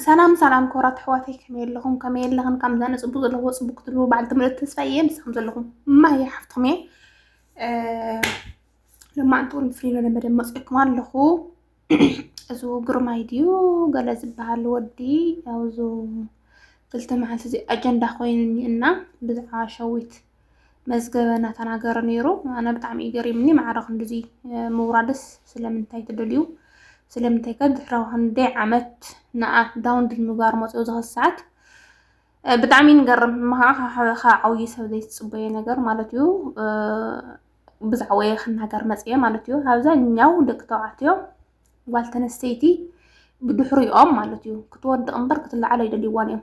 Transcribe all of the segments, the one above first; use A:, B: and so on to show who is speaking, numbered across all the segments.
A: ሰላም ሰላም ክብራት ኣሕዋተይ ከመይ ኣለኹም ከመይ ኣለኽን ካብ ምዛነ ፅቡቅ ዘለዎ ፅቡቅ ክትልዎ በዓል ትምህርቲ ተስፋ እየ ንስኹም ዘለኹም ማየ ሓፍትኹም እየ ልማዕንቲ እውን ብፍልይ ዝበለ መደብ መፅኦኩም ኣለኹ እዚ ግርማይ ድዩ ገለ ዝበሃል ወዲ ኣብዚ ክልተ መዓልቲ እዚ ኣጀንዳ ኮይኑኒ እና ብዛዕባ ሸዊት መዝገበ እናተናገረ ነይሩ። ኣነ ብጣዕሚ እዩ ገሪምኒ ማዕረ ክንድዚ ምውራድስ ስለምንታይ ትደልዩ ስለምንታይ ከ ድሕሪ ክንደይ ዓመት ንኣ ዳውንሎድ ምግባር መፅኡ ዝኸስ ሰዓት ብጣዕሚ ንገርም መኻዓ ካብ ዓብዪ ሰብ ዘይትፅበዮ ነገር ማለት እዩ ብዛዕባ ወየ ክናገር መፅየ ማለት እዩ ኣብዛኛው ደቂ ተባዕትዮ ጓል ተነስተይቲ ብድሕሪኦም ማለት እዩ ክትወድቕ እምበር ክትለዓል ኣይደልይዋን እዮም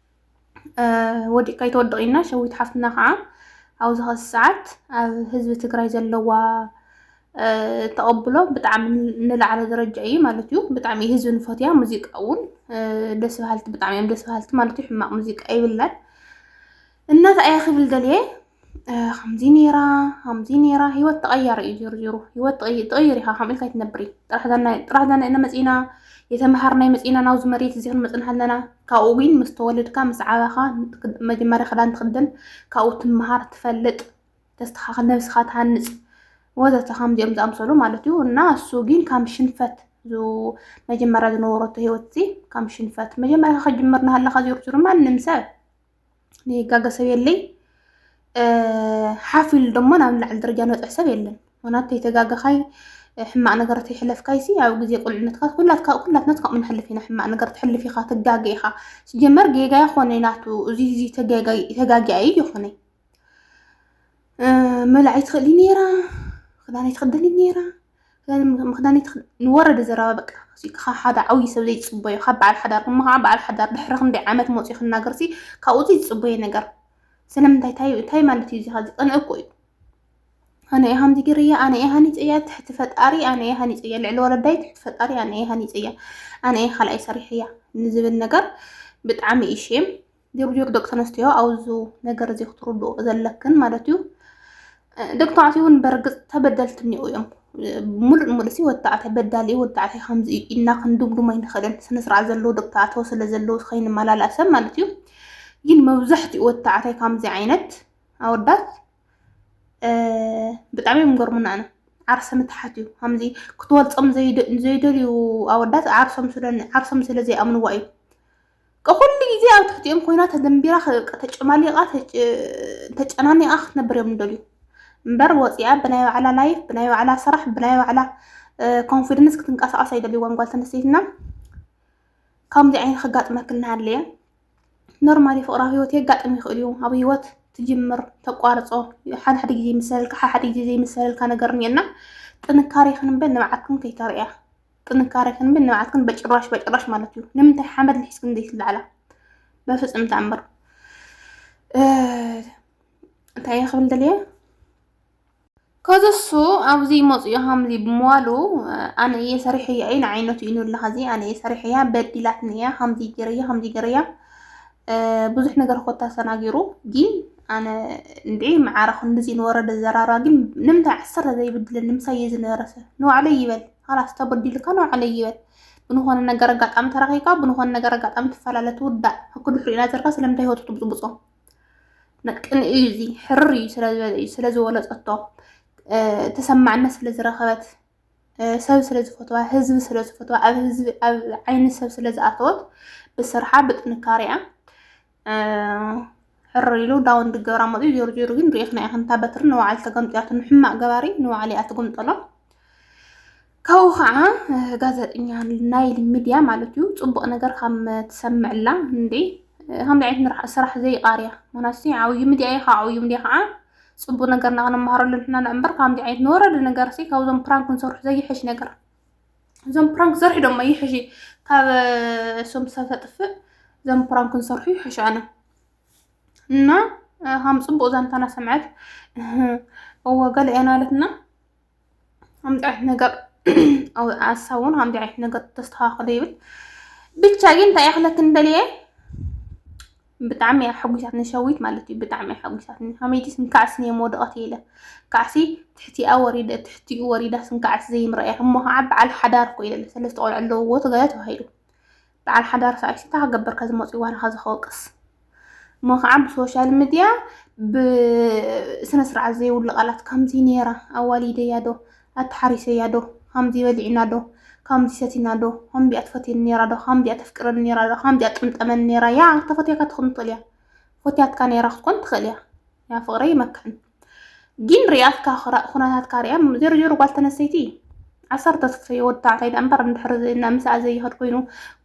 A: ወዲእካ ይተወድቕ ኢልና ሸዊት ሓፍትና ከዓ ኣብዚ ኸዚ ሰዓት ኣብ ህዝቢ ትግራይ ዘለዋ ተቐብሎ ብጣዕሚ ንላዕለ ደረጃ እዩ ማለት እዩ። ብጣዕሚ ህዝቢ ንፈትያ ሙዚቃ እውን ደስ በሃልቲ ብጣዕሚ እዮም ደስ በሃልቲ ማለት እዩ። ሕማቕ ሙዚቃ ይብላል እና እንታይ እየ ክብል ደልየ ከምዚ ነይራ ከምዚ ነይራ ሂወት ተቐያሪ እዩ ዞሩ ዞሩ ሂወት ትቕይር ኢኻ ከምኡ ኢልካ ኣይትነብሪ ጥራሕ ጥራሕ ዛና ኢና መፂና የተምሃርናይ መፂና ናብዚ መሬት እዚ ክንመፅእ ኣለና ካብኡ ግን ምስ ተወለድካ ምስ ዓበኻ መጀመርያ ክዳን ትኽደን ካብኡ ትምሃር ትፈልጥ ተስተኻኽል ነብስኻ ትሃንፅ ወዘተ ከምዚኦም ዝኣምሰሉ ማለት እዩ እና እሱ ግን ከም ሽንፈት መጀመርያ ዝነበረቶ ሂወት እዚ ከም ሽንፈት መጀመርያ ከጅምር ናሃለኻ ዞሩ ዞሩ ማንም ሰብ ንይጋገ ሰብ የለይ ሓፍ ኢሉ ደሞ ናብ ላዕሊ ደረጃ ንበፅሕ ሰብ የለን ምክንያቱ ተይተጋገኻይ ሕማቅ ነገር ተይሕለፍካይ ሲ ኣብ ግዜ ቁልዕነትካ ኩላትካ ኩላትናት ከምኡ ንሕልፍ ኢና ሕማቅ ነገር ትሕልፍ ኢኻ ትጋገ ኢኻ ሲጀመር ጌጋ ይኾነ ናቱ እዚ እዚ ተጋጊያ እዩ ይኾነ መላዒ ትኽእሊ ነይራ ክዳነይ ትኽደኒ ነይራ ምክዳኒት ንወረደ ዘረባ በቃ ካብ ሓደ ዓብዪ ሰብ ዘይፅበዮ ካብ በዓል ሓዳር እሞ ከዓ በዓል ሓዳር ድሕሪ ክንደይ ዓመት መፅኡ ክናገር ሲ ካብኡ ዘይፅበዮ ነገር ስለምንታይ እንታይ እንታይ ማለት እዩ እዚኻ ዝቀንዕ እኮ እዩ ኣነ እየ ሃምዚ ገይረያ ኣነ እየ ሃኒፀያ ትሕቲ ፈጣሪ ኣነ እየ ሃኒፀያ ልዕሊ ወለዳይ ትሕቲ ፈጣሪ ኣነ እየ ሃኒፀያ ኣነ እየ ካልኣይ ሰሪሐያ ንዝብል ነገር ብጣዕሚ እዩ ሼም ጆርጆ ደቂ ተነስትዮ ኣብዚ ነገር እዚ ክትርድኡ ዘለክን ማለት እዩ ደቂ ተባዕትዮ እውን በርግፅ ተበደልቲ እኒኡ እዮም ሙሉእ ንሙሉእ ሲ ወዲ ተባዕታይ በዳሊ እዩ ወዲ ተባዕታይ ከምዚ እዩ ኢልና ክንድምድሞ ኣይንኽእልን ስነስርዓት ዘለዎ ደቂ ተባዕትዮ ስለ ዘለዎ ከይንመላላእ ሰብ ማለት እዩ ግን መብዛሕትኡ ወዲ ተባዕታይ ከምዚ ዓይነት ኣወዳት ብጣዕሚ እዮም ገርሙና ኣነ ዓርሰ ምትሓት እዩ ከምዚ ክትወልፆም ዘይደልዩ ኣወዳት ዓርሶም ስለ ዓርሶም ስለ ዘይኣምንዋ እዩ ኩሉ ግዜ ኣብ ትሕቲኦም ኮይና ተደንቢራ ተጨማሊቓ ተጨናኒቓ ክትነብር እዮም ደልዩ እምበር ወፂኣ ብናይ ባዕላ ላይፍ ብናይ ባዕላ ስራሕ ብናይ ባዕላ ኮንፊደንስ ክትንቀሳቐስ ኣይደልይዎን ጓል ተነስተይትና ከምዚ ዓይነት ከጋጥመክ እናሃለየ ኖርማሊ ፍቅራዊ ህይወት የጋጥም ይኽእል እዩ ኣብ ህይወት ትጅምር ተቋርፆ ሓደ ሓደ ግዜ ይምሰለልካ ሓደ ሓደ ግዜ ዘይምሰለልካ ነገር እኒአና ጥንካሬ ክንበል ንብዓትኩም ከይተርእያ ጥንካሬክን ብ ንብዓትክን በጭራሽ በጭራሽ ማለት እዩ ንምንታይ ሓመድ ልሒዝክን ዘይትለዓላ በፍጹም ተኣምር እንታይ እየ ክብል ደልየ ከዚ እሱ ኣብዚ ይመፁ እዩ ሃምዚ ብምዋሉ ኣነ እየ ሰሪሐያ እዩ ንዓይነቱ እዩ ንብላ ከዚ ኣነ እየ ሰሪሐያ በዲላትኒ እያ ከምዚ ገረያ ከምዚ ገረያ ብዙሕ ነገር ኮታ ሰናጊሩ ግን ኣነ እንድዒ መዓረ ክንድዚ ንወረደ ዘራራ ግን ንምንታይ ዓሰርተ ዘይብድለኒ ምሳይ እየ ዝነበረሰ ንባዕለይ ይበል ኻላስ ተበዲልካ ንባዕለይ ይበል ብንኾነ ነገር ኣጋጣሚ ተራኺብካ ብንኾነ ነገር ኣጋጣሚ ትፈላለ ትውዳእ ኣብ ክንዲ ሕሪእና ዘርካ ስለምንታይ ህይወቱ ትብፅብፆ ነቅን እዩ እዚ ሕርር እዩ ስለዝወለፀቶ ተሰማዕነት ስለዝረኸበት ሰብ ስለዝፈትዋ ህዝቢ ስለዝፈትዋ ኣብ ህዝቢ ኣብ ዓይኒ ሰብ ስለዝኣተወት ብስርሓ ብጥንካሬኣ ሕር ኢሉ ዳውን ድገብራ መፅኡ ጆር ጆር ግን ሪኢኽና ኢኽን እታ በትሪ ንባዕሉ ተገምጢያቱ ንሕማቅ ገባሪ ንባዕሉ እያ ትግምጠሎ ካብኡ ከዓ ጋዜጠኛ ናይል ሚድያ ማለት እዩ ፅቡቅ ነገር ከም ትሰምዕላ እንዴ ከምዚ ዓይነት ስራሕ ዘይቃርያ ምክንያቱ ዓብዩ ሚድያ እዩ ካብ ዓብዩ ሚድያ ከዓ ፅቡቅ ነገርና ክንመሃረሉ ንሕና እምበር ከምዚ ዓይነት ንወረደ ነገር ሲ ካብዞም ፕራንክ ንሰርሑ ዘይሕሽ ነገር እዞም ፕራንክ ዘርሑ ደሞ ይሕሺ ካብ እሶም ሰብ ተጥፍእ እዞም ፕራንክ ንሰርሑ ይሕሹ ኣነ እና ሃም ፅቡቅ ዛንታና ሰምዐት እወ ገለ እያ ናለትና ከምዚ ዓይነት ነገር ኣሳብ እውን ከምዚ ዓይነት ነገር ተስተካክሉ ይብል ብቻ ግን እንታይ እየ ክለክን ደልየ ብጣዕሚ እያ ሓጒሳትኒ ሸዊት ማለት እዩ ብጣዕሚ እያ ሓጒሳትኒ ሃመይቲ ስንካዕስ እየ መወደቐት ኢለ ካዕሲ ትሕቲኣ ወሪደ ትሕቲኡ ወሪዳ ስንካዕስ ዘይምረእያ እሞ ከዓ በዓል ሓዳር እኮ ኢለ ሰለስተ ቆልዑ ኣለውዎ ተጋያ ተባሂሉ በዓል ሓዳር ሰዓይሲ እንታይ ክገበር ከዝመፅኡ ዋናኻ ዝኸወቅስ እሞ ከዓ ብሶሻል ሚድያ ብስነ ስርዓት ዘይብሉ ቃላት ከምዚ ነይራ ኣዋሊደያ ዶ ኣቲ ሓሪሰያ ዶ ኻምዚ በሊዕና ዶ ኻምዚ ሰቲና ዶ ኻምዚኣ ትፈትየኒ ኔራ ዶ ኻምዚኣ ተፍቅረኒ ኔራ ዶ ኻምዚኣ ትቕምጠመኒ ኔራ ያዕ ተፈትያካ ትኹን ትኽእል እያ ፈትያትካ ኔራ ክትኮን ትኽእል እያ ያ ፍቕረይ ይመክሕን ጊን ሪኣትካ ኹነታትካ ሪኣ ዜሮ ዜሮ ጓል ተነስተይቲ ዓሰርተ ትፍረዮ ወዲ ተባዕታይ ደኣ እምበር እንድሕሪ ምስኣ ዘይኸድ ኮይኑ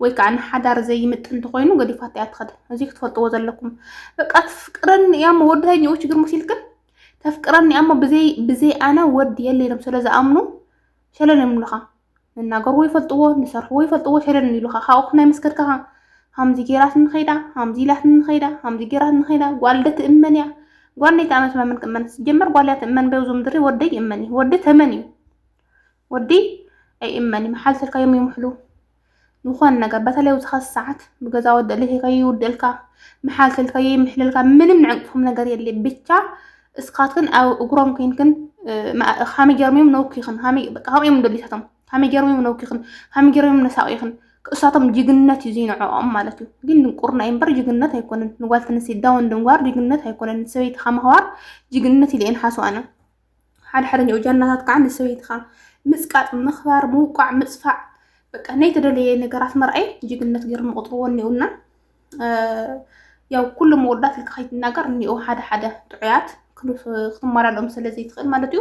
A: ወይ ከዓ ንሓዳር ዘይምጥን እንተኾይኑ ገዲፋታ እያ ትኸድ እዚ ክትፈልጥዎ ዘለኩም በቃ ትፍቅረኒ እያ እሞ ወዲ ተኛኡ ችግር መሲልክን ተፍቅረኒ እሞ ብዘይ ኣነ ወዲ የለ ኢሎም ስለ ዝኣምኑ ሸለል ይብሉኻ ንናገርዎ ይፈልጥዎ ንሰርሕዎ ይፈልጥዎ ሸለል ይብሉኻ ካብኡ ክናይ መስከድካኻ ሃምዚ ጌራት ንኸይዳ ሃምዚ ኢላት ንኸይዳ ሃምዚ ጌራት ንኸይዳ ጓል ደ ትእመን እያ ጓል ናይ ተኣመት መምን ክእመን ጀመር ጓል እያ ትእመን በብዞ ምድሪ ወደ ይእመን እዩ ወዲ ተመን እዩ ወዲ ኣይእመን እዩ መሓልተልካ እዮም ይምሕሉ ዝኾነ ነገር በተለይ ኣብዚ ኸዚ ሰዓት ብገዛ ወዲ እልህ ከይውድእልካ መሓልትል ከይምሕልልካ ምንም ንዕንቅኹም ነገር የለ ብቻ እስኻትክን ኣብ እግሮም ኮይንክን ከመይ ገይሮም እዮም ነውኪኽን ከምኡ እዮም ደሊታቶም ከመይ ገይሮም እዮም ነውኪኽን ከመይ ገይሮም እዮም ነሳቂኽን እሳቶም ጅግነት እዩ ዘይንዕኦም ማለት እዩ ግን ድንቁርና እዩ እምበር ጅግነት ኣይኮነን ንጓል ተንስቲ ዳውን ድንጓር ጅግነት ኣይኮነን ሰበይቲ ከመህዋር ጅግነት ኢለ እየን ሓስዋነ ሓድሓደኛኡ ጃናታት ከዓ ንሰበይትኻ ምፅቃጥ፣ ምኽባር፣ ምውቃዕ፣ ምፅፋዕ በቃ ናይ ተደለየ ነገራት መርኣይ ጅግነት ገይሮም ይቆፅርዎ እኒኡና ያው ኩሉ መወዳት ልክ ከይትናገር እኒኡ ሓደ ሓደ ጥዑያት ክትመላለኦም ስለዘይትኽእል ማለት እዩ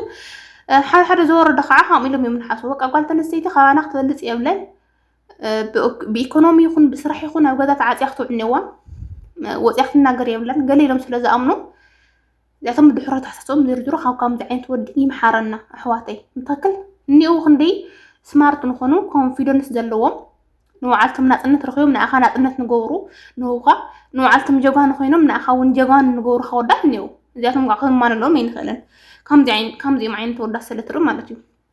A: ሓደ ሓደ ዝወረደ ከዓ ከምኡ ኢሎም እዮም ንሓስቡ በቃ ጓል ተነስተይቲ ካባና ክትበልፅ የብለን ብኢኮኖሚ ይኹን ብስራሕ ይኹን ኣብ ገዛ ተዓፅያ ክትውዕል እኒዋ ወፅያ ክትናገር የብለን ገለ ኢሎም ስለዝኣምኑ እዚኣቶም ድሑራታትቶም ዝርዝሩ ካብ ከምዚ ዓይነት ወዲ ይምሓረና ኣሕዋተይ እንታክል እኒኡ ክንደይ ስማርት ንኾኑ ኮንፊደንስ ዘለዎም ንባዕልቶም ናፅነት ረኪቦም ንኣኻ ናፅነት ንገብሩ ንህውኻ ንባዕልቶም ጀጓኑ ኮይኖም ንኣኻ እውን ጀጓኑ ንገብሩ ከወዳት እኒኡ እዚኣቶም ከዓ ክንማለሎም ኣይንኽእልን ከምዚኦም ዓይነት ወዳት ስለትርኢ ማለት እዩ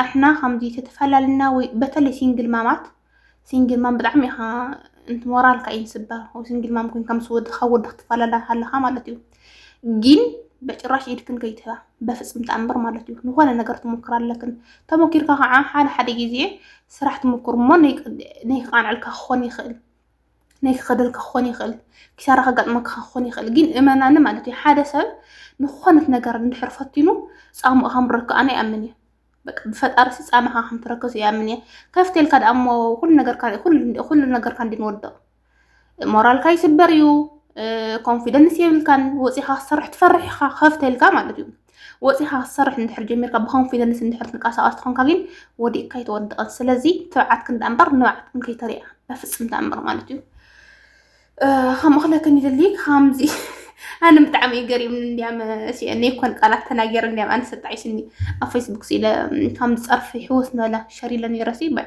A: ኣሕና ከምዚ ተተፈላለና ወይ በተለይ ሲንግል ማማት ሲንግል ማም ብጣዕሚ ኢኻ እንት ሞራልካ እዩ ዝስበር ወይ ሲንግል ማም ኮይንካ ምስ ወድኻ ወዲ ክትፈላለ ኣለኻ ማለት እዩ ግን በጭራሽ ኢድክን ከይትህባ በፍፅም ተኣምር ማለት እዩ ዝኾነ ነገር ትሞክር ኣለክን ተሞኪርካ ከዓ ሓደ ሓደ ግዜ ስራሕ ትሞክር እሞ ነይቃንዐልካ ክኾን ይኽእል ናይ ክኸደልካ ክኾን ይኽእል፣ ኪሳራ ከጋጥመካ ክኾን ይኽእል። ግን እመናኒ ማለት እዩ ሓደ ሰብ ንክኾነት ነገር እንድሕር ፈቲኑ ፃምኡ ከምረክ ኣነ ይኣምን እዩ። በቃ ብፈጣሪ ሲ ፃማኻ ከምትረከዝ ይኣምን እየ። ከፍቴልካ ደኣ እሞ ኩሉ ነገርካ ኩሉ ነገርካ እንዲ ንወድቕ ሞራልካ ይስበር እዩ። ኮንፊደንስ የብልካን ወፂኻ ክትሰርሕ ትፈርሕ ኢኻ ከፍቴልካ ማለት እዩ። ወፂኻ ክትሰርሕ እንድሕር ጀሚርካ ብኮንፊደንስ እንድሕር ትንቀሳቀስ ትኾንካ ግን ወዲእካ ኣይተወድቕን። ስለዚ ትብዓትክን ዳኣ እምበር ንብዓትክን ከይተሪኣ በፍፅም ተኣምር ማለት እዩ። ከምኡ ክለክን ይደሊ ከምዚ ኣነ ብጣዕሚ እዩ ገሪምኒ እንዲያም እኔ እኮን ቃላት ተናገር እንዲያም ኣነ ሰጣዒስኒ ኣብ ፌስቡክ ስኢለ ከም ፀርፊ ሕወስ ንበላ ሸሪለ ነይረሲ ባይ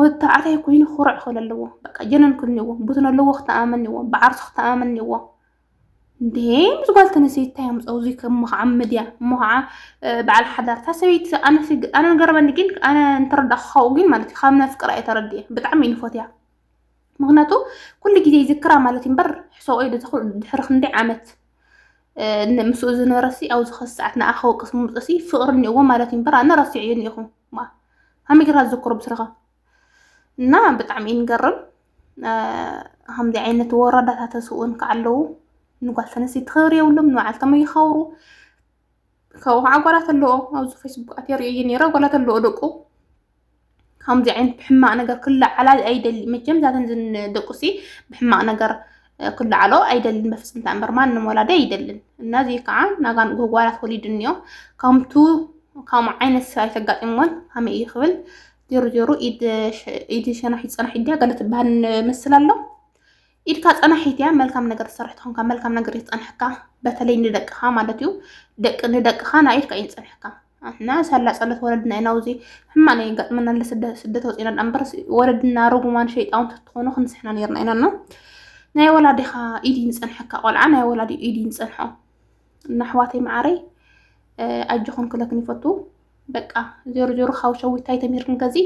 A: ወታዓታይ ኮይኑ ኩርዕ ክብል ኣለዎ በቃ ጀነን ክብል ኣለዎ ቡትን ኣለዎ ክተኣመን ኣለዎ ብዓርሱ ክተኣመን ኣለዎ እንዴ ምስ ጓል ተነሰይቲ እንታይ ኣምፀኡ እዚ እሞ ከዓ ምድያ እሞ ከዓ በዓል ሓዳር እታ ሰበይቲ ኣነ ገረመኒ ግን ኣነ እንተረዳእኩ ካብኡ ግን ማለት እዩ ካብ ነፍቅራ እየ ተረዲየ ብጣዕሚ እዩ ንፎትያ ምክንያቱ ኩሉ ግዜ ይዝክራ ማለት እዩ እምበር ሕሰቆ ኢሉ ተክሉ ድሕሪ ክንደይ ዓመት ምስኡ ዝነበረሲ ኣብዚ ኸዚ ሰዓት ንኣ ከወቅስ ምምፅእሲ ፍቅሪ እኒኦዎ ማለት እዩ እምበር ኣነ ረሲዐዮ እኒኦኹ ከመይ ጌርካ ዝዘክሮ ብስረኻ እና ብጣዕሚ እዩ ንገርም ከምዚ ዓይነት ወረዳታት ተስእኡን ከዓ ኣለዉ ንጓል ተነስተይቲ ክብሪ የብሎም ንባዓልቶም ይኸብሩ ካብኡ ከዓ ጓላት ኣለዎ ኣብዚ ፌስቡክ ኣትየ ርእየ ነይረ ጓላት ኣለዎ ደቁ ከምዚ ዓይነት ብሕማቅ ነገር ክለዓላ ኣይደሊ መቸም ዛተን ደቁሲ ብሕማቅ ነገር ክለዓሎ ኣይደልን በፍፅም ተኣምር ማንም ወላዲ ኣይደልን እና እዚ ከዓ ናጋን ጎጓላት ወሊድ እኒኦ ከምቱ ከም ዓይነት ስራ ተጋጢሞን ከመይ እዩ ክብል ዜሮ ዜሮ ኢድ ሸናሒ ፀናሒ ድያ ገለ ትበሃል ምስል ኣሎ ኢድካ ፀናሒት እያ መልካም ነገር ዝሰርሕ ትኾንካ መልካም ነገር ይፀንሐካ በተለይ ንደቅኻ ማለት እዩ ደቂ ንደቅኻ ናይ ኢድካ እዩ ዝፀንሐካ እና ሳላ ጸሎት ወለድና ኢና ውዚ ሕማቅ ናይ ገጥመና ኣለ ስደት ወፂና ዳ እምበር ወለድና ርጉማን ሸይጣውን ተትኾኑ ክንስሕና ነርና ኢና እና ናይ ወላዲኻ ኢድ ይንፀንሐካ ቆልዓ ናይ ወላዲ ኢድ ይንፀንሖ እና ኣሕዋተይ መዓረይ ኣጆኹም ክለክን ይፈቱ በቃ ዜሮ ዜሮ ካብ ሸዊታይ ተምሂርክን ከዚ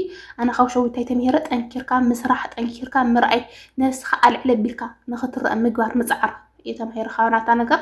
A: ኣነ ካብ ሸዊታይ ተምሂረ ጠንኪርካ ምስራሕ ጠንኪርካ ምርኣይ ነብስኻ ኣልዕለ ቢልካ ንኽትረአ ምግባር ምፅዓር እየ ተማሂረ ካባናታ ነገር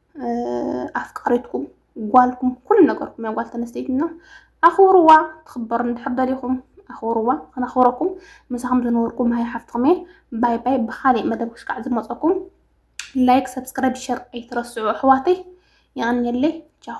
A: ኣፍቃሪትኩም ጓልኩም ኩሉ ነገርኩም እያ ጓል ተነስተይትና ኣኽብርዋ ትኽበር እንድሕር ደሊኹም ኣኽብርዋ ክነኽብረኩም ምሳኹም ዝነበርኩም ሃይ ሓፍትኹም እየ ባይ ባይ ብካሊእ መደብ ክሽካዕ ዝመፀኩም ላይክ ሰብስክራይብ ሸር ኣይትረስዑ ኣሕዋተይ የቐንየለይ ቻው